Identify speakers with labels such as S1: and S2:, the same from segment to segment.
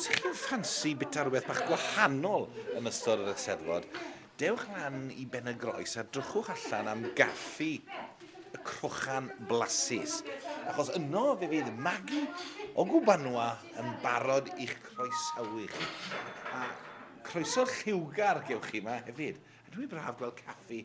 S1: Os ych chi'n ffansi bita rhywbeth bach gwahanol yn ystod yr Eisteddfod, dewch lan i Ben y Groes a drychwch allan am gaffi y crochan blasus. Achos yno fe fydd Magi o Gwbanwa yn barod i'ch croesawu chi. A croeso lliwgar gewch chi yma hefyd. A dwi'n braf gweld caffi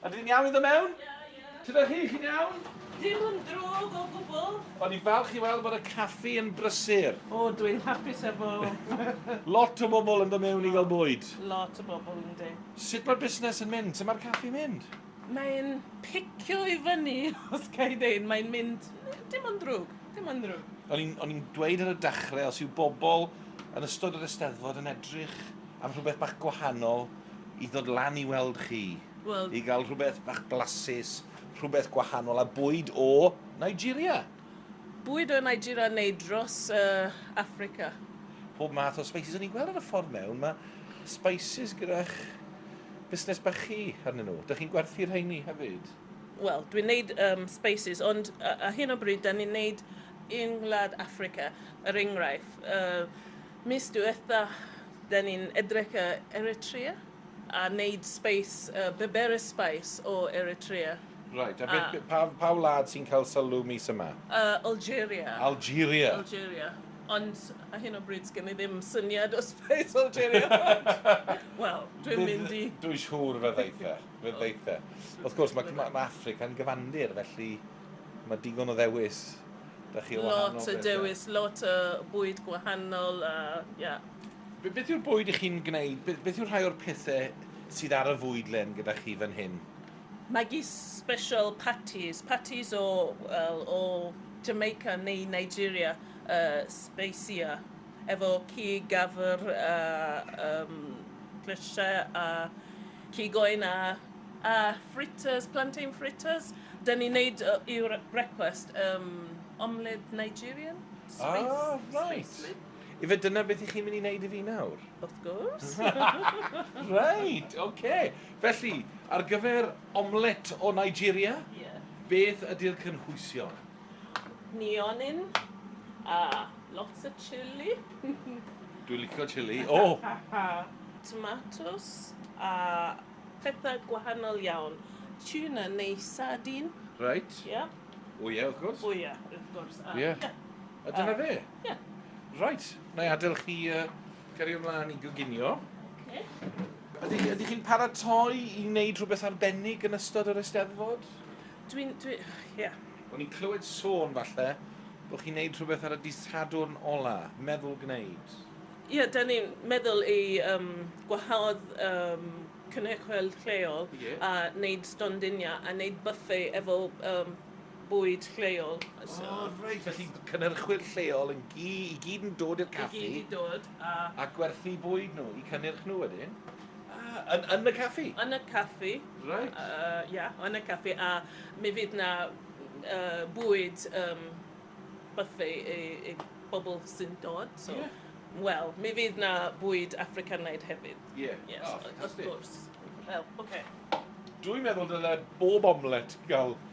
S1: Ydyn ni'n iawn i ddod mewn? Sut ydych chi? Chi'n iawn? Dim yn drwg
S2: o gwbl. O'n i'n falch i weld
S1: bod y caffi yn brysur. O, dw i'n hapus
S3: efo. Lot
S1: o bobl yn dod mewn i gael bwyd. Lot o bobl,
S3: yndi. Sut mae'r busnes
S1: yn mynd? Sut mae'r caffi'n mynd? Mae'n
S3: picio i fyny, os ga i ddeud. Mae'n mynd... dim yn drwg. Dim yn drwg. O'n i'n, o'n i'n dweud
S1: ar y dechrau, os yw bobl yn ystod yr Eisteddfod yn edrych am rhywbeth bach gwahanol, i ddod lan i weld chi, well, i gael
S3: rhywbeth bach
S1: blasus, rhywbeth gwahanol, a bwyd o Nigeria. Bwyd o
S3: Nigeria neu dros uh, Africa? Pob
S1: math o spices. O'n i'n gweld ar y ffordd mewn, mae spices gyda'ch busnes bach chi arnyn nhw. Dych chi'n gwerthu rheini hefyd? Wel, dwi'n neud
S3: um, spices, ond uh, a hyn o bryd, da ni'n neud yng Ngwlad Africa, yr er enghraifft. Uh, Mis diwetha, da ni'n edrych ar Eritrea a neud space, yy Beberes Spice o Eritrea. Reit, a beth,
S1: pa, pa wlad sy'n cael sylw mis yma? Yy Algeria.
S3: Algeria?
S1: Algeria.
S3: Ond ar hyn o bryd sgen i ddim syniad os beth Algeria ond, wel, dwi'n mynd i... Dwi'n siŵr fe ddeith
S1: e, fe ddeith e. Wrth gwrs, ma', ma', ma' Affrica'n gyfandir, felly... Mae digon o ddewis. Da chi o wahanol Lot
S3: o dewis, lot o bwyd gwahanol a ia. Be, beth yw'r
S1: bwyd i chi'n gwneud? Be, beth yw'r rhai o'r pethau sydd ar y fwydlen gyda chi fan hyn? Maggi
S3: special patties, patties o, wel, o Jamaica neu Nigeria, uh, speisia, efo cig, gafr a um, grisiau a Cig oen a a fritters, plantain fritters. Dyn ni'n neud yy i'r brecwast yym omelette Nigerian? Space. Ah, reit. Space
S1: lid. Ife dyna beth i chi'n mynd i wneud i fi nawr? Wrth gwrs. Reit, ocê. Felly, ar gyfer omelette o Nigeria... Ie. ...beth
S3: ydi'r
S1: cynhwysion?
S3: Nionyn a lots o chilli. Dwi'n
S1: licio chilli. O! Tomatos
S3: a pethau gwahanol iawn. Tuna neu sardine. Reit. Ie.
S1: O
S3: ie, wrth gwrs.
S1: O ie, wrth gwrs.
S3: A, ie. Ie.
S1: A dyna fe? Ie.
S3: Reit,
S1: na i adael chi uh, cario ymlaen i goginio. Okay.
S3: Ydych chi,
S1: chi'n paratoi i wneud rhywbeth arbennig yn ystod yr Eisteddfod? Dwi'n... dwi...
S3: ie. O'n i'n clywed
S1: sôn, falle, bod chi'n neud rhywbeth ar y dydd Sadwrn ola. Meddwl gwneud. Ie, da ni'n
S3: meddwl i yym gwahodd yym cynhyrchwyr lleol... Ie. ...a neud stondiniau a neud bwffe efo yym bwyd lleol, so... O reit,
S1: felly cynhyrchwyr lleol yn gy- i gyd yn dod i'r caffi... I gyd i dod
S3: a... A gwerthu
S1: bwyd nhw, i cynnyrch nhw wedyn? Ah, yn, yn y caffi? Yn y caffi.
S3: Reit.
S1: Uh, yeah, yn y
S3: caffi. A mi fydd na uh, bwyd um, bythu i, i bobl sy'n dod. So, yeah. Wel,
S1: mi fydd
S3: na bwyd Africanaidd hefyd. Ie. Yeah. Yes, oh,
S1: fantastic. Of
S3: course.
S1: Wel,
S3: oce. Okay. Dwi'n meddwl
S1: dyle bob omlet gael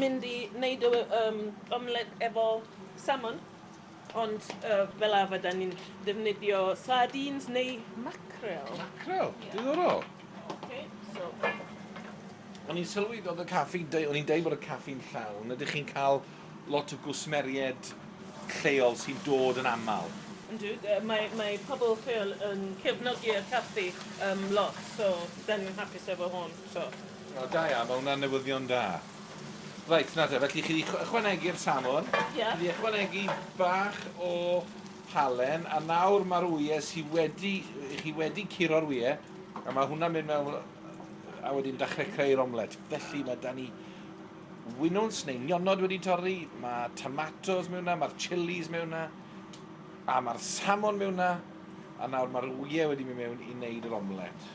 S3: mynd i neud y yym omlet efo salmon ond yy fel arfer 'dan ni'n defnyddio sardines neu mackerel. Mackerel? Ie.
S1: Diddorol. Oce so O'n i'n sylwi o'dd y caffi deu- o'n i'n deud bod y caffi'n llawn ydych chi'n ca'l lot o gwsmeried lleol sy'n dod yn amal? Yndw d- yy mae
S3: mae pobol lleol yn cefnogi'r caffi yym lot so 'dan ni'n hapus efo hon. So. O, da iawn, mae
S1: hwnna'n newyddion da. Reit, nawr te, felly chi wedi ychwanegu'r salmon, yeah. chi wedi ychwanegu bach o halen, a nawr mae'r wyau sydd wedi, chi wedi curo'r wyau, a mae hwnna'n mynd mewn, a wedyn dechrau creu'r omlet. Felly mae da ni winwns neu nionod wedi torri, mae tomatos mewn yna, mae'r chilis mewn yna, a mae'r salmon mewn yna, a nawr mae'r wyau wedi mynd mewn i wneud yr omlet.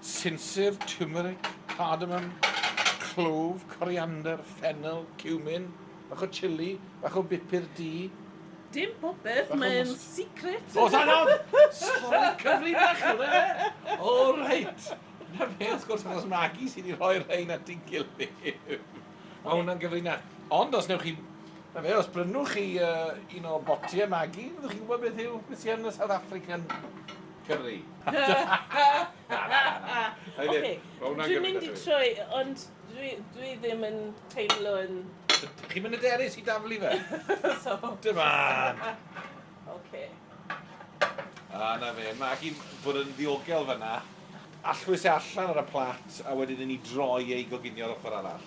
S1: Sinsir, tiwmeric, cardamom, clwf, coriander, ffenel, ciwmin, bach o chili, bach o bupur du. Dim
S3: popeth, mae'n secret! O, da iawn!
S1: Sori, cyfri bach yw hwnna, ife? O, reit! Na fe, wrth gwrs, achos Magi sydd wedi rhoi'r rhain at ei gilydd. Mae hwnna'n gyfrinach. Ond os newch chi... Na fe, os brynwch chi uh, un o botiau Magi, fyddwch chi'n gwybod beth yw beth sy'n yn y South African
S3: Cymru. Oce, dwi'n mynd i troi, ond dwi ddim yn teimlo yn... Chi'n mynd hyderus
S1: i daflu fe? Dim
S3: ond! Oce.
S1: A 'na fe, Magi bod yn ddiogel fan'na. Allwys e allan ar y plat, a wedyn i ni droi e i goginio ar ochr arall.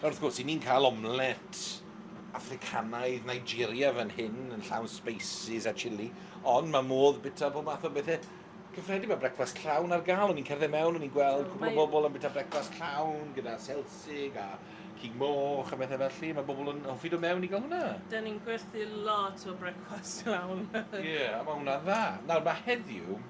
S1: Nawr wrth gwrs, 'yn ni'n cael omlet Affricanaidd, Nigeria fan hyn, yn llawn spices a chilli, ond mae modd bita pob math o bethe cyffredin. Mae brecwast llawn ar gael, o'n i'n cerdded mewn, o'n i'n gweld cwpl o bobl yn bita brecwast llawn gyda selsig a cig moch a bethau felly. Mae bobl yn hoffi dod mewn i gael hwnna. Da ni'n gwerthu
S3: lot o brecwast llawn. Ie, a mae hwnna'n
S1: dda. Nawr, mae heddiw,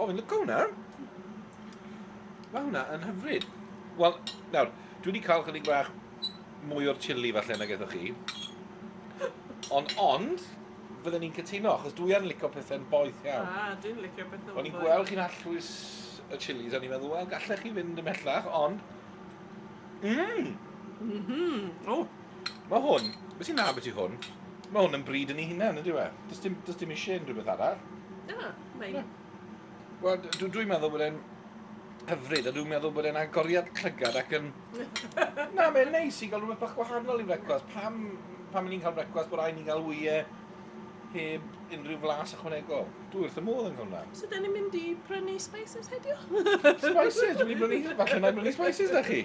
S1: O, fi'n lyco hwnna. Mae hwnna yn hyfryd. Wel, nawr, dwi wedi cael chydig bach mwy o'r chili falle na gyda chi. Ond, ond, fydden ni'n cytuno, achos dwi yn licio pethau'n boeth iawn. A, ah, dwi'n licio pethau'n boeth.
S3: O'n i'n gweld chi'n allwys
S1: y chilis, o'n i'n meddwl, wel, gallech chi fynd ymhellach, ond... Mmm! Mhm.
S3: O, Mae hwn,
S1: beth sy'n dda beth i hwn? Mae hwn yn bryd yn ei hunain, ydy we? Does dim, does dim eisiau unrhyw beth arall. Na,
S3: mae'n...
S1: Wel, dwi'n dwi meddwl bod e'n hyfryd, a dwi'n meddwl bod e'n agoriad llygad ac yn... Na, mae'n neis i gael rhywbeth bach gwahanol i frecwast. Pam, pam ni'n cael frecwast bod rhaid ni'n cael wyau heb unrhyw flas ychwanegol? Dwi wrth y modd yn cael hwnna. So, da ni'n mynd i
S3: prynu spices heddiw?
S1: spices? Dwi'n mynd i brynu, falle na brynu spices da chi.